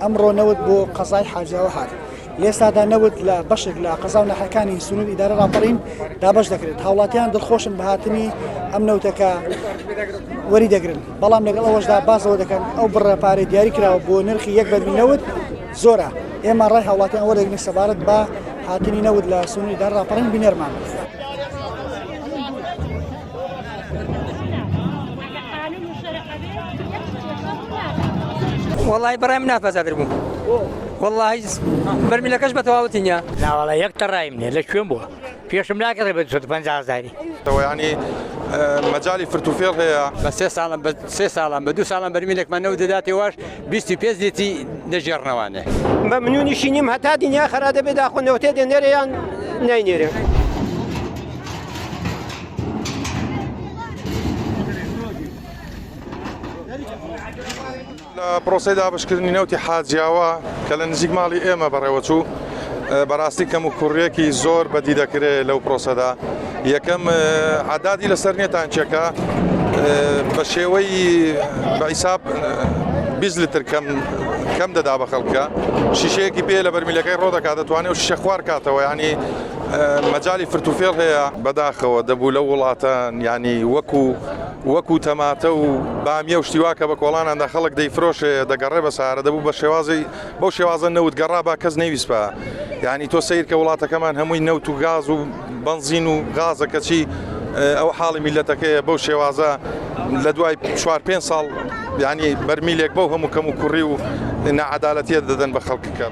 ئەمڕۆ نەوت بۆ قەزای حاجاوە هاات لێسادا نەوت لە بەشێک لە قەزا و نەحەکانی سنوور ئیدارە ڕاپەڕین دابش دەکرێت هاوڵاتیان دڵخۆشن بەهاتنی ئەم نەوتەکە وەری دەگرن بەڵام لەگەڵ ئەوەشدا بازەوە دەکەن ئەو بڕە پارەی دیاری کراوە بۆ نرخی یەک بەرمی نەوت زۆرە ئێمە ڕای هاوڵاتیان وەرەگرین سەبارەت بە هاتنی نەوت لە سنوری دار ڕاپەڕین بینەرمان بێت. وەڵی بڕێم ناپەزادر بووم وەڵی بەرمیلەکەش بە تەواوتینە ناوەڵە یەک تەڕایم نیە لە کوێن بووە پێشم ناکڕێ بە دوسەد پەنجا هەزاری. تەوە یانی مەجالی فرت و فێڵ هەیە. بە سێ ساڵم بە سێ ساڵم بە دوو ساڵم بەرمینێکمان نەوت دەداتێ واش بیستی پێنج لیتی دەژێڕنەوانێ. مەمنونیشی نیم هەتا دنیا خەرا دەبێ داخۆ نەوتێ دێنێرێ یان ناینێرێ. لە پرۆسەی دابەشکردنی نەوتی حاجیاوا کە لە نزیک ماڵی ئێمە بەڕێوەچوو، بەڕاستی کەموکوڕییەکی زۆر بەدی دەکرێ لەو پرۆسەدا. یەکەم، عەدادی لەسەر نییە تانکییەکە بە شێوەی بە ئیساب بیست لتر کەم کەم دەدا بە خەڵکە. شیشەیەکی پێیە لە بەرمیلەکەی ڕۆ دەکا، دەتوانێ ئەو شیشە خوار کاتەوە. یانی مەجالی فرتوفێڵ هەیە. بەداخەوە دەبوو لەو وڵاتە یانی وەکوو. وەکو تەماتە و بامیە و شتیوا کە بە کۆڵاناندا خەڵک دەیفرۆشێ دەگەڕێ بە سارە دەبوو بە شێوازی بەو شێوازە نەوت گەڕا با کەس نەویسپا یعنی تۆ سیر کە وڵاتەکەمان هەمووی نەوت و گاز و بنزین و غازە کەچی ئەو حاڵی میلەتەکەیە بەو شێوازە لە دوای چوار پێ ساڵ ینی بەرمیلێک بەو هەموو کەم و کوڕی و نەعادالەتە دەدەن بە خەڵکەکە.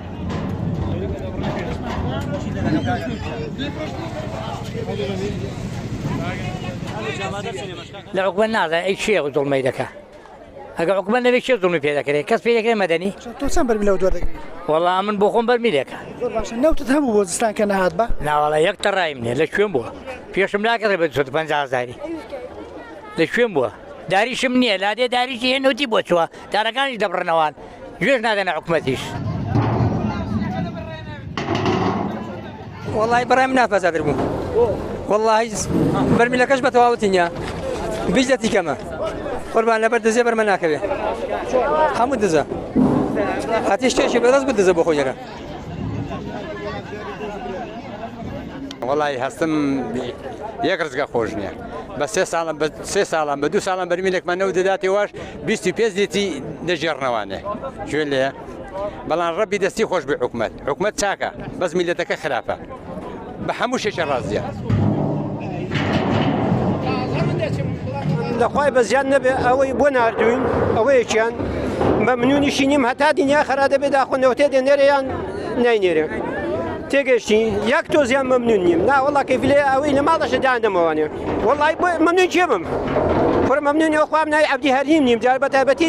لە عقبە نازە ئەی چێ و دڵمەی دەکە ئەگە عقبە نەوێت چێ دڵمی پێ دەکرێت کەس پێ دەکرێت مەدەنی تۆ چەند بەر لەو دووە دەگری وەڵا من بۆ خۆم بەرمیلێکە نەوتت هەبوو بۆ زستان کە نهات بە ناوەڵە یەک تەڕایم نیە لە کوێن بووە پێشم ناکەڕێ بە 5 هزاری لە کوێن بووە داریشم نییە لادێ داریشی هێنوتی بۆ چوە دارەکانیش دەبڕنەوان گوێش نادەنە حکومەتیش. وڵی بەڕێم ناپەزادر بوو وڵی بەرمیلەکەش بە تەواوتی نیە بیش لە تیکەمە قوربان لەبەر دزێ بەرمە ناکەوێ هەموو دزە هاتی شتێکی بەدەست بدزە بۆ خۆیەکە وڵی هەستم یەک ڕزگە خۆش نییە بە سێ ساڵم بە سێ ساڵم بە دوو ساڵم بەرمیلێکمان نەوت دەداتێ واش بیست و پێنج لێتی دەژێڕنەوانێ کوێ لێ بەڵام ڕەبی دەستی خۆش بێ حکومت حکومت چاکە بەس میلەتەکە خراپە بە هەموو شێشە ڕازیە. لەخوای بە زیاد نەبێ ئەوەی بۆ نردوین ئەوەیەکیان بە منونیشی نیم هەتا دنیا خرا دەبێت داخۆنەوەتێ دێ نێریان نینێرێ تێگەشتی یەک تۆزیان مەمنون نیم ناوەڵا کەفلێ ئەوەی لە ماڵەشە دادەمەوانێ وەڵای بۆ مەمنون کێبم خۆرە مەمنونی ئەوخوام نای عبدی هەریم نیم جار بە تایبەتی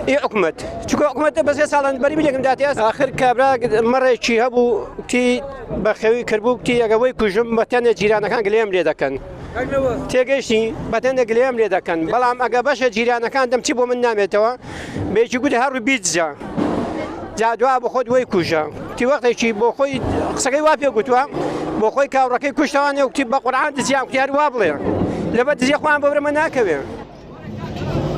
ئی حکومت چکە حکومەتە بەسێ ساڵان بەری بلێکم داتێس آخر کابرا مەڕێکی هەبوو تی بەخەوی کردبوو تی ئەگەوەی کوژم بەتەنێ جیرانەکان گلێم لێ دەکەن تێگەشتی بەتەنێ گلێم لێ دەکەن بەڵام ئەگە بەشە جیرانەکان دەم چی بۆ من نامێتەوە بێکی گوت هەڕ بیجە جا دوا بە خۆت وەی کوژە تی وەختێکی بۆ خۆی قسەکەی وا پێ گوتووە بۆ خۆی کاوڕەکەی کوشتوانێ وتی بە قورعان دزیان کوتیار وا بڵێ لەبەر دزیە خۆیان بەورەمە ناکەوێ Thank you.